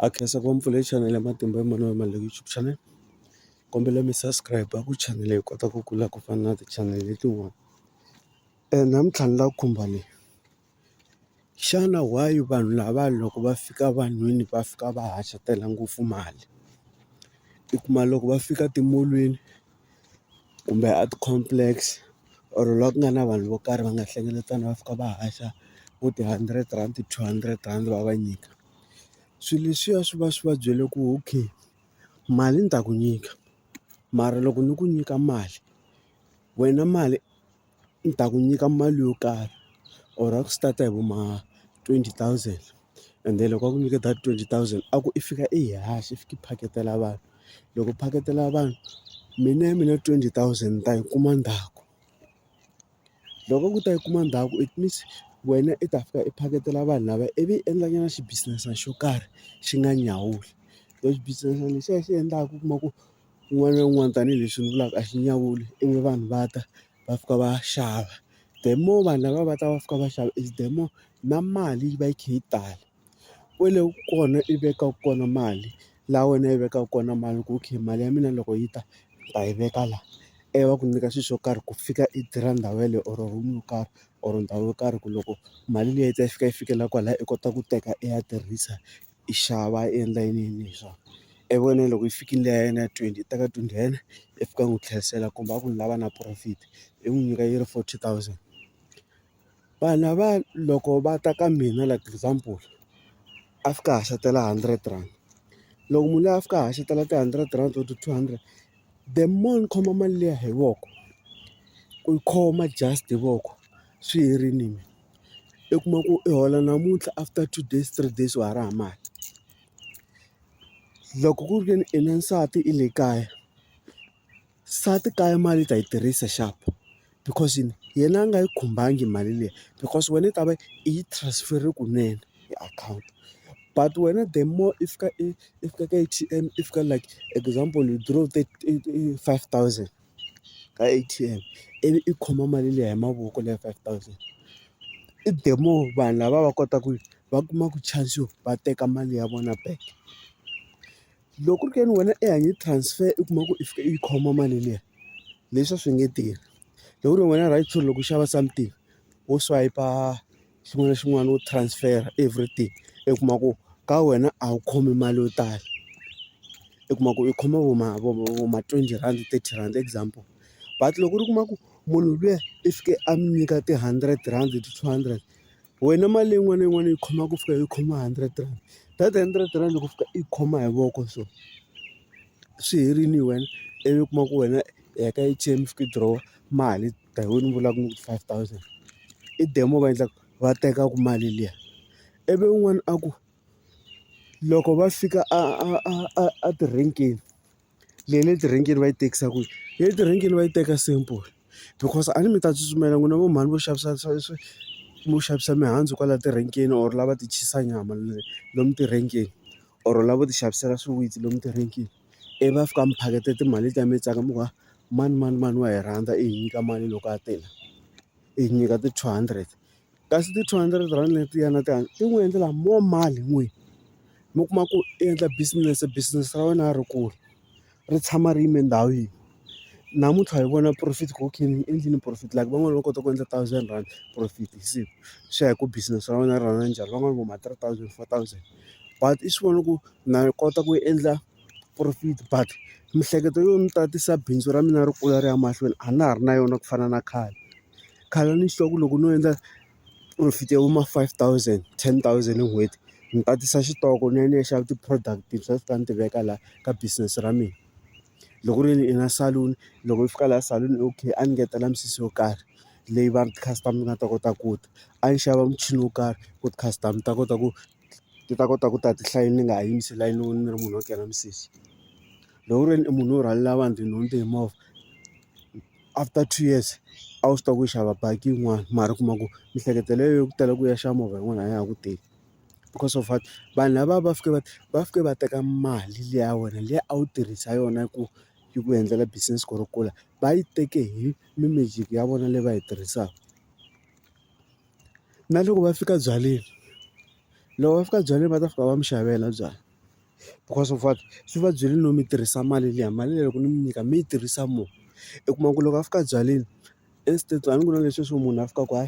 a khensa ku va mpfula hi chanele ya matimba ya mfumo wa mali leyi YouTube channel kombela mi subscribe ku channel leyi kota ku kula ku fana na ti channel letin'wana namuntlha ni la khumba leyi xana why vanhu lava loko va fika vanhwini va fika va haxa tela ngopfu mali i kuma loko va fika timolweni. kumbe a ti-complex or laha ku nga na vanhu vo karhi va nga hlengeletana va fika va haxa vo ti-hundred rand ti-two hundred rand va va nyika swilo leswiya swi va swi va byele ku okay mali ni ta ku nyika mara loko ni ku nyika mali wena mali. ni ta ku nyika mali yo karhi or a ku start-a hi vo ma twenty thousand and then loko a ku nyike that twenty thousand a ku i fika i yi haxa i fika i phaketela vanhu loko u phaketela vanhu mina ya mina twenty thousand ni ta yi kuma ndzhaku loko a ku ta yi kuma ndzhaku it means wena i ta fika i phaketela vanhu lava ivi i endlanyana xi-business-ana xo karhi xi nga nyawuli xi-business-ana lexiya xi endlaka u kuma ku. un'wana na un'wana tanihileswi ni vulaka a xi nyawuli ivi vanhu va ta va fika va xava the more vanhu lava va ta va fika va xava is the more na mali yi va yi kha yi tala kwale kona i vekaka kona mali laha wena yi vekaka kona mali ku okay mali ya mina loko yi ta ni ta yi veka la ivi va ku nyika swilo swo karhi ku fika i tirha ndhawu yeleyo or room yo karhi or ndhawu yo karhi ku loko mali liya yi ta yi fika yi fikela kwalaya i kota ku teka i ya tirhisa yi xava yi endla yini yini hi swona ivi wena loko yi fikile liya ya yena ya twenty yi teka twenty ya yena yi fika yi n'wi tlherisela kumbe a ku ni lava na profit yi n'wi nyika yi ri forty thousand vanhu lava loko va ta ka mina like example a fika a haxatela hundred rand loko munhu loyi a fika a haxatela ti-hundred rand or two hundred the more ni khoma mali liya hi voko ku yi khoma just hi voko swi herile mina. i kuma ku i hola namuntlha after two days three days wa ha ri hava mali loko ku ri ke ni i na nsati i le kaya nsati kaya mali i ta yi tirhisa xana because yini yena a nga yi khumbangi mali liya because wena i ta va i yi transfer-rile kunene hi akhawunti but wena the more i fika i i fika ka A_T_M i fika like example withdraw five thousand. ka A_T_M ivi i khoma mali liya hi mavoko leyi ya five thousand i the more vanhu lava va kotaka ku va kumaka chance yo va teka mali ya vona back loko ku ri ka yini wena i hanye transfer i kuma ku i fika i yi khoma mali liya leswi a swi nge tirhi loko ku ri wena right loko u xava something wo swayipa. xin'wana na xin'wana u transfer everything i kuma ku ka wena a wu khomi mali yo tala i kuma ku i khoma vo ma vo vo ma twenty rhandi thirty rhandi example but loko u kuma ku munhu luya i fike a mi nyika ti-hundred rhandi ti-two hundred wena mali yin'wana na yin'wana yi khoma ku fika yi khoma hundred rand that hundred rand loko fika i khoma hi voko so swi herile wena ivi u kuma ku wena i heta i chain fika i dirowa mali. Ta hi wena u vulaka ku five thousand i demo va endla ku va teka ku mali liya ivi un'wana a ku loko va fika a a a a a ti-rank-ini leyi le ti-rank-ini va yi tekisa kwihi le ti-rank-ini va yi teka simple because a ni mi ta tsutsumela n'wina vo mhani vo xavisa vo xavisa mihandzu kwala ti-rank-ini or lava ti chisa nyama lomu ti-rank-ini or lavo ti xavisela swiwitsi lomu ti-rank-ini. ivi va fika va mi phaketa timali letiya mi tsaka mi ku ha mani mani mani wa hi rhandza i hi nyika mali loko a tele i hi nyika ti-two hundred kasi ti-two hundred rand letiya na ti ti n'wi endlela more mali n'wini mi kuma ku i endla business business ra wena ri kula ri tshama ri yime ndhawu yin'we. namuntlha hi vona profit ku okay ni endlini profit like van'wani va kota ku endla thousand rand profit hi siku swi ya hi ku business ra wena ri run-a njhani van'wani vo ma three thousand four thousand but i swi vona ku na yi kota ku endla profit but miehleketo yo ni tatisa bindzu ra mina ri kula ri ya mahlweni a na ha ri na yona ku fana na khale khale a ni swi tiva ku loko no endla profit ya vo ma five thousand ten thousand hi n'hweti ni tatisa xitoko ni ya ni ya xava ti-product-i ni swi tiva ni ti veka laha ka business ra mina. loko ku ri i na saloon loko i fika laha saloon okay a ni ngetela misisi yo karhi leyi va ti-customer ti nga ta kota ku ta a ni xava muchini wo karhi ku ti-customer ti ta kota ku ti ta kota ku ta ti hlayile ni nga ha yimisi layini ni ri munhu wo kera misisi loko ku ri wena i munhu wo rhwalela vanhu tinhundzu hi movha after two years a wu swi tiva ku xava baki yin'wana mara u kuma ku miehleketo leyi yo ku tala ku ya xava movha yin'wana a ya ha ku teki. because of what vanhu lava va fike va va fike va teka mali liya ya wena liya a wu tirhisa yona ku yi ku endlela business ku ri kula va yi teke hi mi-magic ya vona leyi va yi tirhisaka na loko va fika byaleni loko va fika byaleni va ta fika va mi xavela byalwa because of what swi va byele no mi tirhisa mali liya mali leyi loko ni mi nyika mi yi tirhisa more u kuma ku loko a fika byaleni instead a ni ku na leswi swo munhu a fikaka a.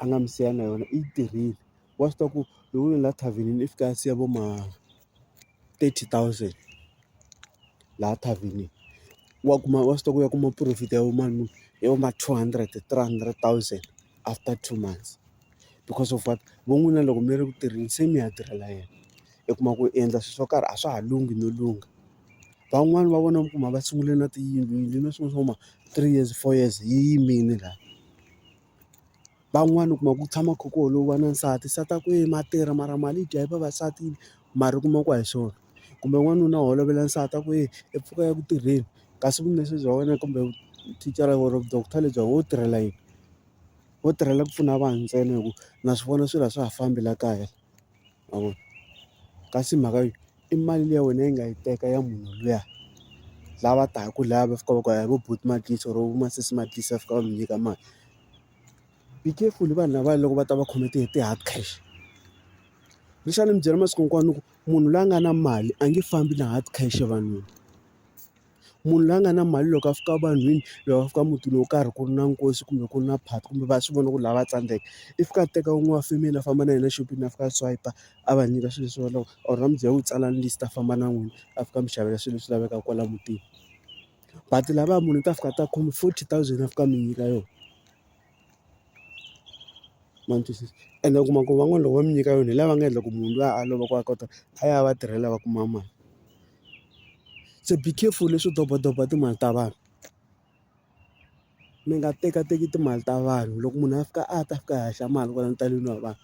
a nga mi siya na yona i yi tirhile wa swi tiva ku loko ni la thavhenini i fika a siya vo ma thirty thousand laha thavhenini wa kuma wa swi tiva ku ya kuma profit ya vo ma muni ya vo ma two hundred three hundred thousand after two months because of what vo n'wina loko mi ri ku tirheni se mi ya tirhela yena i kuma ku i endla swilo swo karhi a swa ha lunghi no lungha van'wani va vona mi kuma va sungule na tiyindlu yindlu na swin'wana swo huma three years four years yi yimile laha. van'wani u kuma ku tshama kha ku holova na nsati nsati a ku e ma tirha mara mali yi dya hi vavasati mara u kuma ku a hi swona kumbe n'wanuna u holovela nsati a ku e i pfuka i ya ku tirheni kasi vumesi bya wena kumbe thicara or doctor lebyi wo tirhela yini wo tirhela ku pfuna vanhu ntsena hi ku na swi vona swilo a swa ha fambi la kaya ma vo kasi mhaka yo. i mali liya wena yi nga yi teka ya munhu luya lava taka lava va fika va ku hi vo buti Matlisa or vo masesi Matlisa va fika va mi nyika mali be careful vanhu lavaya loko va ta va khome ti ti hard cash ni xi va ni mi byela masiku hinkwawo ni ku munhu loyi a nga na mali a nge fambi na hard cash evanhwini. Munhu loyi a nga na mali loko a fika vanhwini loyi a fika mutini wo karhi ku ri na nkosi kumbe ku ri na phati kumbe va swi vona ku ri lava va tsandzeka, i fika a teka wun'we wa family a famba na yena exopeni a fika a swayipa a va nyika swilo leswi va lavaka or a n'wi byela ku tsalani list a famba na n'wina a fika a mi xavela swilo leswi lavekaka kwala mutini. But lavaya munhu u ta fika a ta khome forty thousand a fika a mi nyika yona. Ma ni twisisa? Ene u kuma ku van'wana loko va mi nyika yona hi lava nga endla ku munhu luya a lova ku a kota a ya a va tirhela a va kuma mali. se be careful leswo doba doba timali ta vanhu mi nga tekateki timali ta vanhu loko munhu a fika a ta fika a haxa mali kwala ntaleni wa vanhu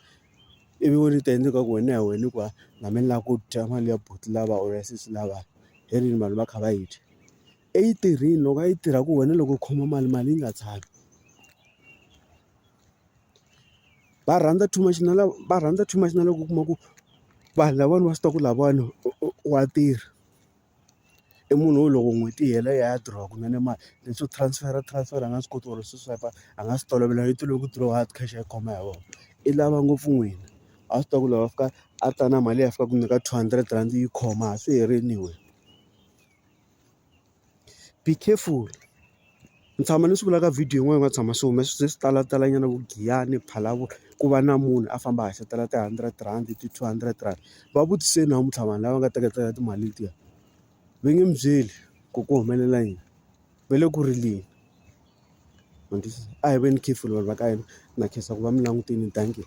ivi wena u ta endla ingaku wena hi wena hikuva na me ni lava ku dya mali ya buti lava or ya sesi lava hi rini vanhu va kha va yi dya eyi tirhile loko a yi tirha ku wena loko u khoma mali mali yi nga tshami. va rhandza too much na lava va rhandza too much na loko u kuma ku vanhu lavawani va swi tiva ku lahawani wa tirha i munhu wo loko n'hweti yi hela ya ya diroha kunene mali leswo transfer transfer a nga swi koti or swi swipe a nga swi tolovela i tolove ku diroha hard cash a yi khoma hi voko i lava ngopfu n'wina a swi tiva ku loko a fika a ta na mali leyi a fika a ku nyika two hundred rhandi yi khoma a swi herile wena. be careful ni tshama ni swi vula ka video yin'wana yi nga tshama swi hume swi ze swi talatalanyana vo giyani phalalavolo ku va na munhu a famba a haxatela ti-hundred rand ti-two hundred rand va vutise namuntlha vanhu lava nga teketela timali letiya va nge mi byeli ku ku humelela yini va le ku rileni a hi veni careful vanhu va ka hina na khensa ku va mi langutile dankie.